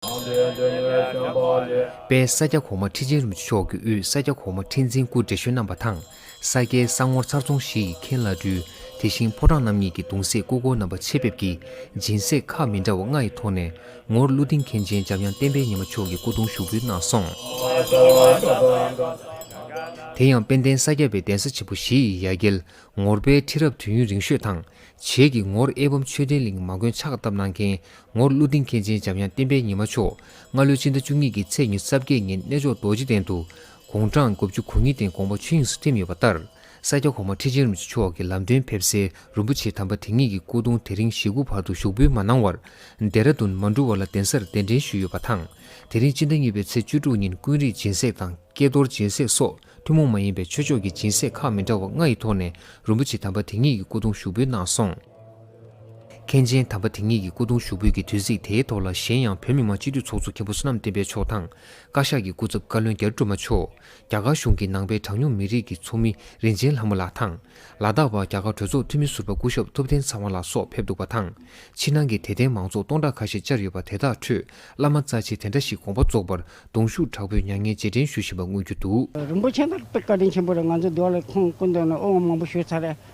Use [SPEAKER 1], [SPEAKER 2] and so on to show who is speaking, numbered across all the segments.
[SPEAKER 1] དང་ལྡན་འབྲས་གནས་བྱམས་པ་ལས། པའི་ས་སྐྱ་གོང་མ་ཁྲི་ཆེན་རིན་ཆེ་མཆོག་གི་དབུས་ས་སྐྱ་གོང་མ་ཁྲི་འཛིན་སྐུ་བགྲེས་གཞོན་རྣམ་པ་དང་ས་སྐྱའི་ས་ངོར་ཚར་ཚོང་བཞི་ཡི་མཁན་བླ་སྤྲུལ་དེ་བཞིན་ཕོ་བྲང་རྣམ་གཉིས་ཀྱི་གདུང་སྲས་སྐུ་སྒོར་རྣམ་པ་ཆེད་ཕེབས་ཀྱིས་སྦྱིན་སྲེག་ཁག་མི་འདྲ་བ་ལྔ་ཡི་ཐོག་ནས་ངོར་ཀླུ་སྡིངས་མཁན་ཆེན་འཇམ་དབྱངས་བསྟན་འཕེལ་ཉི་མ་མཆོག་གི་སྐུ་གདུང་ཞུགས་འབུལ་གནང་སོང། དེ་ཡང་དཔལ་ལྡན་ས་སྐྱ་པའི་གདན་ས་ཆེན་པོ་བཞི་ཡི་ཡ་གྱལ་ངོར་པའི་ཁྲི་རབས་དུས་ཡུན་རིང་ཤོས་དང། བྱེས་ཀྱི་ངོར་ཨེ་བམ་ཆོས་ལྡན་གླིང་མ་མགོན་ཕྱག་བཏབ་གནང་མཁན་ངོར་ཀླུ་ལྡིང་མཁན་ཆེན་འཇམ་དབྱངས་བསྟན་པའི་ཉི་མ་མཆོག་སྔ་ལོའི་ཕྱི་ཟླ་བཅུ་གཉིས་ཀྱི་ཚེས་ཉེར་གསར་བརྒྱད་ཉིན་གནས་མཆོག་རྡོ་རྗེ་གདན་དུ་དགུང་གྲངས་དགུ་བཅུ་གོ་གཉིས་སྟེང་དགོངས་པ་ཆོས་དབྱིངས་སུ་ཐིམ་ཡོད་པ་ལྟར་ས་སྐྱ་གོང་མ་ཁྲི་ཆེན་རིན་པོ་ཆེ་མཆོག་གི་ལམ་སྟོན་ཕེབས་སའི་རིན་པོ་ཆེ་དམ་པ་དེ་ཉིད་ཀྱི་སྐུ་གདུང་དེ་རིང་གཞིས་ཁུག་བར་དུ་ཞུགས་འབུལ་མ་གནང་བར་རྡེ་ར་རྡུན་མ་འགྲུལ་བ་ལ་གདན་སར་གདན་འདྲེན་ཞུས་ཡོད་པ་དང་དེ་རིང་སྤྱི་ཟླ་གཉིས་པའི་ཚེས་བཅུ་དྲུག་ཉིན་ཀུན་རིག་སྦྱིན་སྲེག་དང་ཀྱེ་རྡོར་སྦྱིན་སྲེག་སོགས་ཐུན་མོང་མ་ཡིན་པའི་ཆོས་ཕྱོགས་ཀྱི་སྦྱིན་སྲེག་ཁག་མི་འདྲ་བ་ལྔ་ཡི་ཐོག་ནས་རིན་པོ་ཆེ་དམ་པ་དེ་ཉིད་ཀྱི་སྐུ་གདུང་ཞུགས་འབུལ་གནང་སོང། མཁན་ཆེན་དམ་པ་དེ་ཉིད་ཀྱི་སྐུ་གདུང་ཞུགས་འབུལ་གྱི་དུས་ཚིགས་དེའི་ཐོག་ལ་གཞན་ཡང་བོད་མི་མང་སྤྱི་འཐུས་ཚོགས་གཙོ་མཁན་པོ་བསོད་ནམས་བསྟན་པའི་མཆོག་དང། བཀའ་ཤག་གི་སྐུ་ཚབ་བཀའ་བློན་རྒྱ་རི་སྒྲོལ་མ་མཆོག། རྒྱ་གར་གཞུང་གི་ནང་པའི་གྲངས་ཉུང་མི་རིགས་ཀྱི་ཚོགས་མི་རིན་ཆེན་ལྷ་མོ་ལགས་དང། ལ་དྭགས་པ་རྒྱ་གར་གྲོས་ཚོགས་འཐུས་མི་ཟུར་པ་སྐུ་ཞབས་ཐུབ་བསྟན་ཚ་བ་ལགས་སོགས་ཕེབས་འདུག་པ་དང། ཕྱི་ནང་གི་དད་ལྡན་མང་ཚོགས་སྟོང་ཕྲག་ཁ་ཤས་བཅར་ཡོད་པ་དེ་དག་ཁྲོད་བླ་མ་རྩ་ཆེ་དེ་འདྲ་ཞིག་དགོངས་པ་རྫོགས་པར་གདུང་ཤུགས་དྲག་པོས་མྱ་ངན་རྗེས་དྲན་ཞུ་བཞིན་པ་མངོན་རྒྱུ་འདུག། རིན་པོ་ཆེ་དང་དཔལ་
[SPEAKER 2] བཀའ་དྲིན་ཆེན་པོ་རེད་ང་ཚོའི་འདུ་བ་ལས་ཁོང་སྐུ་འདོན་ནས་དབུ་འང་མང་པོ་ཞུས་ཚར་རེད།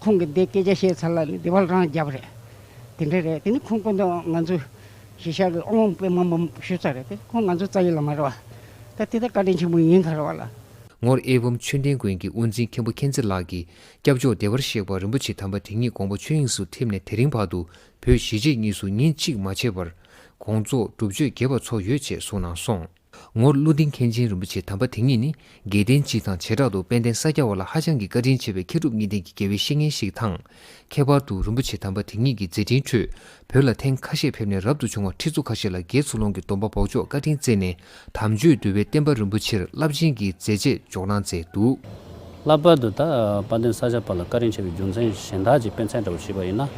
[SPEAKER 2] ཁོང་གིས་འདི་སྐད་ཆ་བཤད་ཚར་ལ་ནི་འདི་བལ་རང་རྒྱབ་རེད། དེ་འདྲ་རེད་དེ་ནི་ཁོང་སྤུན་ཟླ་ང་ཚོའི་གཞིས་ཆགས་ཀྱི་དབང་དཔེ་མང་པོ་ཞུ་ཚར་རེད་དེ་ཁོང་ང་ཚོའི་རྩ་ཡིག་ལ་མ་རེ་བ། ད་དེ་ལྟར་བཀའ་དྲིན་ཆེན་པོ་ཡིན་ཁར་བ་ལ། ངོར་ཨེ་བུམ་
[SPEAKER 1] ཆོས་ལྡན་དགོན་གྱི་དབུ་འཛིན་མཁན་པོ་མཁྱེན་བརྩེ་ལགས་ཀྱིས་སྐྱབས་མཆོག་བདེ་བར་གཤེགས་པ་རིན་པོ་ཆེ་དམ་པ་དེ་ཉིད་དགོངས་པ་ཆོས་དབྱིངས་སུ་ཐིམ་ནས་དེ་རིང་བར་དུ་བོད་གཞིས་བྱེས་གཉིས་སུ་ཉིན་གཅིག་མ་བྱས་པར། དགོངས་རྫོགས་སྒྲུབ་མཆོད་རྒྱས་པ་འཚོགས་ཡོད་ཅེས་གསུངས་གནང་སོང། ངོར་ཀླུ་ལྡིང་མཁན་ཆེན་རིན་པོ་ཆེ་དམ་པ་དེ་ཉིད་ནི་དགེ་ལྡན་སྤྱི་དང་བྱེ་བྲག་ཏུ་དཔལ་ལྡན་ས་སྐྱ་བ་ལ་ཧ་ཅང་གི་བཀའ་དྲིན་ཆེ་བའི་མཁས་གྲུབ་གཉིས་ལྡན་གྱི་དགེ་བའི་བཤེས་གཉེན་ཞིག་དང། ཁྱད་པར་དུ་རིན་པོ་ཆེ་དམ་པ་དེ་ཉིད་ཀྱི་མཛད་འཕྲིན་ཁྲོད་བོད་ལ་ཐེངས་ཁ་ཤས་ཕེབས་ནས་རབ་ཏུ་བྱུང་བ་ཁྲི་ཚོ་ཁ་ཤས་ལ་དགེ་ཚུལ་སློང་གི་སྡོམ་པ་འབོག་ཆོག་བཀའ་དྲིན་བསྩལ་ནས་དམ་ཆོས་འདུལ་བའི་བསྟན་པ་རིན་པོ་ཆེར་རླབས་ཆེན་གྱི་མཛད་རྗེས་འཇོག་གནང་མཛད་འདུག། ལྷག་པར་དུ་ད་
[SPEAKER 3] དཔལ་ལྡན་ས་སྐྱ་པ་ལ་བཀའ་དྲིན་ཆེ་བའི་རྒྱུ་མཚན་གཞན་དག་ཅིག་དཔེ་མཚན་འདྲ་བོ་བྱས་པ་ཡིན་ན།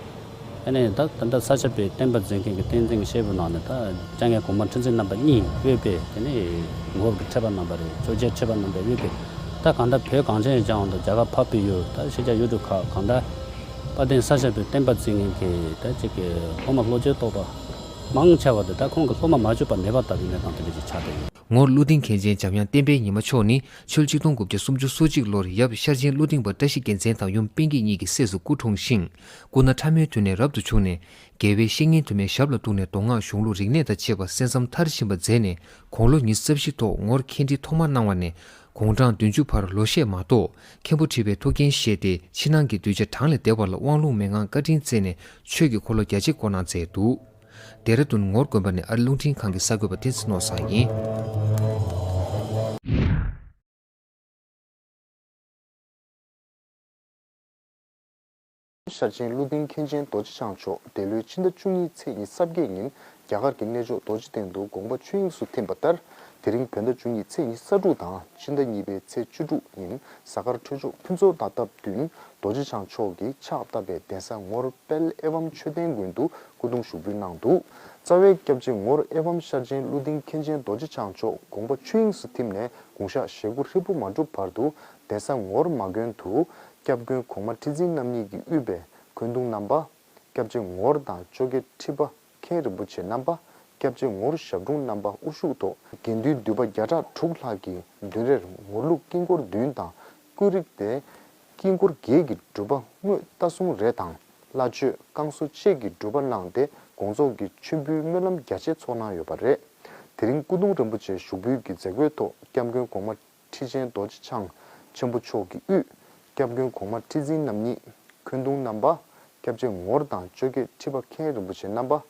[SPEAKER 3] ཨ་ནེ་དག་ད་ལྟ་ས་ཆ་པའི་བསྟན་པ་འཛིན་མཁན་གྱི་བསྟན་འཛིན་གྱི་བཤད་བུ་ནང་ནས་ད་སྐྱ་ངའི་གོང་མ་ཁྲི་འཛིན་རྣམ་པ་གཉིས་དབུས་པའི་དེ་ནས་འགོ་ཁྲེད་པ་རྣམ་པ་རེད་གཙོས་རྒྱལ་ཁྲེད་པ་རྣམ་པའི་དབུས་པའི་ད་གང་འདྲ་བོད་གངས་ཅན་ཡི་ལྗང་བ་དང་རྒྱ་གར་ཕ་བི་ཡོད་ད་ཤེས་རྒྱ་ཡུལ་གྲུ་ཁག་གང་འདྲ་དཔའ་བསྟན་ས་ཆ་པའི་བསྟན་པ་འཛིན་མཁན་གྱི་ད་ཅིག་གི་སློབ་མ་བློ་རྒྱལ་རྟོགས་པ་མང་ཆེ་བ་དེ་ད་ཁོང་གི་སློབ་མ་མ་བཅོས་པ་མེད་པ་ལྟ་བུའི་གནས་སྟངས་དེ་འདྲ་ཞིག་ཆགས་བསྡད་ཡོད། ངོར་ཀླུ་ལྡིང་མཁན་
[SPEAKER 1] ཆེན་འཇམ་དབྱངས་བསྟན་པའི་ཉི་མ་མཆོག་ནི་ཆོལ་གཅིག་སྟོང་དགུ་བརྒྱ་སུམ་ཅུ་སོ་གཅིག་ལོར་ཡབ་ཤར་ཆེན་ཀླུ་ལྡིང་པ་བཀྲ་ཤིས་རྒྱལ་མཚན་དང་ཡུམ་དཔལ་སྐྱིད་གཉིས་ཀྱི་སྲས་སུ་སྐུ་འཁྲུངས་ཤིང། སྐུ་ན་ཕྲ་མོའི་དུས་ནས་རབ་ཏུ་བྱུང་ནས། དགེ་བའི་བཤེས་གཉེན་དུ་མའི་ཞབས་ལ་གཏུགས་ནས་མདོ་སྔགས་གཞུང་ལུགས་རིག་གནས་དང་བཅས་པ་གསན་བསམ་མཐར་ཕྱིན་པ་མཛད་ནས་དགུང་ལོ་ཉི་རྩ་བཞི་ཐོག་ངོར་མཁན་འདྲི་ཐོག་མར་གནང་བ་ནས་དགུང་གྲངས་བདུན་ཅུ་བར་ལོ་ཤས་མ་གཏོགས་མཁན་པོ་ཁྲི་པའི་ཐུགས་འགན་བཞེས་ཏེ་ཕྱི་ནང་གི་གདུལ་བྱ་གྲངས་ལས་འདས་པ་ལ་དབང་ལུང་མན་ངག་བཀའ་དྲིན་བསྩལ་ནས་ཆོས་ཀྱི་འཁོར་ལོ་རྒྱ་ཆེ་བསྐོར་གནང་མཛད་འདུག་རྡེ་ར་ལྡུན་ངོར་དགོན་པ་ནི་ཨ་རི་རླུང་འཕྲིན་ཁང་གི་གསར་འགོད་པ་ཏིན་སི་ནོར་བཟང་ཡིན།
[SPEAKER 4] ཤར་ཆེན་ཀླུ་ལྡིང་མཁན་ཆེན་རྡོ་རྗེ་འཆང་མཆོག་འདས་ལོའི་ཕྱི་ཟླ་བཅུ་གཉིས་ཚེས་གཉིས་གསར་སྐྱེས་ཉིན་རྒྱ་གར་གྱི་གནས་མཆོག་རྡོ་རྗེ་གདན་དུ་དགོངས་པ་ཆོས་དབྱིངས་སུ་ཐིམ་པ་ལྟར། དེ་རིང་བོད་ཟླ་བཅུ་གཉིས་ཚེས་གཉིས་གསར་དྲུག་དང་ཕྱི་ཟླ་གཉིས་པའི་ཚེས་བཅུ་དྲུག་ཉིན་གཟའ་སྐར་འཕྲོད་ཆོག་ཕུན་ཚོགས་ཟླ་སྟབས་བདུན་རྡོ་རྗེ་འཆང་མཆོག་གིས་ཕྱག་བཏབ་པའི་གདན་ས་ངོར་དཔལ་ཨེ་བམ་ཆོས་ལྡན་དགོན་དུ་སྐུ་གདུང་ཞུགས་འབུལ་གནང་འདུག་རྩ་བའི་སྐྱབས་རྗེ་ངོར་ཨེ་བམ་ཤར་ཆེན་ཀླུ་ལྡིང་མཁན་ཆེན་རྡོ་རྗེ་འཆང་མཆོག་དགོངས་པ་ཆོས་དབྱིངས་སུ་ཐིམ་ནས་དགུང་ཞག་ཞེ་དགུ་ཧྲིལ་པོ་མ་འགྲུབ་བར་དུ་གདན་ས་ངོར་མ་དགོན་དུ་སྐྱབས་མགོན་གོང་མ་ཁྲི་འཛིན་རྣམ་གཉིས་ཀྱིས་དབུས་པའི་མགོན་གདུང་རྣམ་པ། སྐྱབས་རྗེ་ངོར་དང་ཅོ་ཀེ་ཁྲི་པ་མཁན་རིན་པོ་ཆེ་རྣམ་པ། སྐྱབས་རྗེ་ངོར་ཞབས་དྲུང་རྣམ་པ་དབུ་བཞུགས་ཐོག་དགེ་འདུན་འདུས་པ་བརྒྱ་ཕྲག་དྲུག་ལྷག་གིས་མདུན་རེར་ངོར་ལུགས་དཀྱིལ་འཁོར་བདུན་དང་ཀུན་རིག་སྟེ། དཀྱིལ་འཁོར་བརྒྱད་ཀྱི་སྒྲུབ་པ་དངོས་རྟ་གསུང་རེ་དང་བླ་མཆོད་བསྐང་གསོ་བཅས་ཀྱི་སྒྲུབ་པ་གནང་སྟེ་དགོངས་རྫོགས་ཀྱི་མཆོད་འབུལ་སྨོན་ལམ་རྒྱ་ཆེ་ཚོགས་གནང་ཡོད་པ་རེད། དེ་རིང་སྐུ་གདུང་རིན་པོ་ཆེ་ཞུགས་འབུལ་གྱི་མཛད་སྒོའི་ཐོག་སྐྱབས་མགོན་གོང་མ། ཁྲི་ཆེན་རྡོ་རྗེ་འཆང་ཆེན་པོ་མཆོག་གི་དབུས། སྐྱབས་མགོན་གོང་མ་ཁྲི་འཛིན་རྣམ་གཉིས་ཁོན་མདུང་བསྣམས་པ། སྐྱབས་རྗེ་ངོར་དང་གཅོད་རྒྱལ་ཁྲི་པ་མཁན་རིན་པོ་ཆེ་བསྣམས་པ།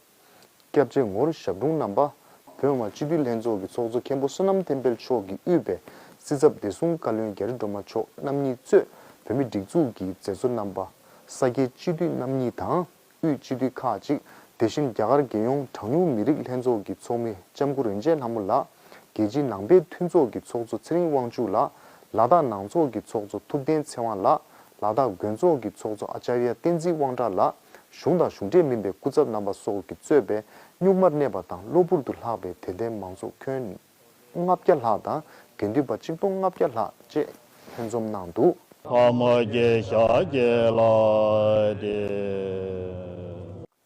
[SPEAKER 4] སྐྱབས་རྗེ་ངོར་ཞབས་དྲུང་བསྣམས་པ། བོད་དབང་སྤྱི་འཐུས་ལྷན་ཚོགས་ཀྱི་ཚོགས་གཙོ་མཁན་པོ་བསོད་ནམས་བསྟན་དཔལ་མཆོག་གི་དབུས་པའི་སྲིད་ཚབ་བདེ་སྲུང་བཀའ་བློན་རྒྱ་རི་སྒྲོལ་མ་མཆོག་རྣམ་གཉིས་གཙོས་བོད་མི་སྒྲིག་འཛུགས་ཀྱི་མཛད་གཙོ་རྣམ་པ། ས་སྐྱའི་སྤྱི་འཐུས་རྣམ་གཉིས་དང། དབུས་སྤྱི་འཐུས་ཁག་ཅིག་དེ་བཞིན་རྒྱ་གར་རྒྱལ་ཡོངས་གྲངས་ཉུང་མི་རིགས་ལྷན་ཚོགས་ཀྱི་ཚོགས་མི་ལྕམ་སྐུ་རིན་ཆེན་ལྷ་མོ་ལགས། རྒྱལ་སྤྱིའི་ནང་པའི་མཐུན་ཚོགས་ཀྱི་ཚོགས་གཙོ་ཚེ་རིང་དབང་ཕྱུག་ལགས། ལ་དྭགས་ནང་ཚོགས་ཀྱི་ཚོགས་གཙོ་ཐུབ་བསྟན་ཚེ་དབང་ལགས། ལ་དྭགས་དགོན་ཚོགས་ཀྱི་ཚོགས་གཙོ་ཨཅཱརྱ་བསྟན་འཛིན་དབང་གྲགས་ལགས། གཞུང་དང་གཞུང་འབྲེལ་མིན་པའི་སྐུ་ཚབ་རྣམ་པ་སོགས་ཀྱིས་གཙོས་པའི་གཉུག་མར་གནས་པ་དང་གློ་བུར་དུ་ལྷགས་པའི་དད་ལྡན་མང་ཚོགས་ཁྱོན་ལྔ་བརྒྱ་ལྷག་དང་དགེ་འདུན་པ་གཅིག་སྟོང་ལྔ་བརྒྱ་ལྷག་བཅས་ལྷན་འཛོམས་གནང་འདུག། ཕག་མོ་
[SPEAKER 5] རྒྱལ་ཞྭ་རྒྱལ་
[SPEAKER 4] ལགས་
[SPEAKER 5] ཏེ།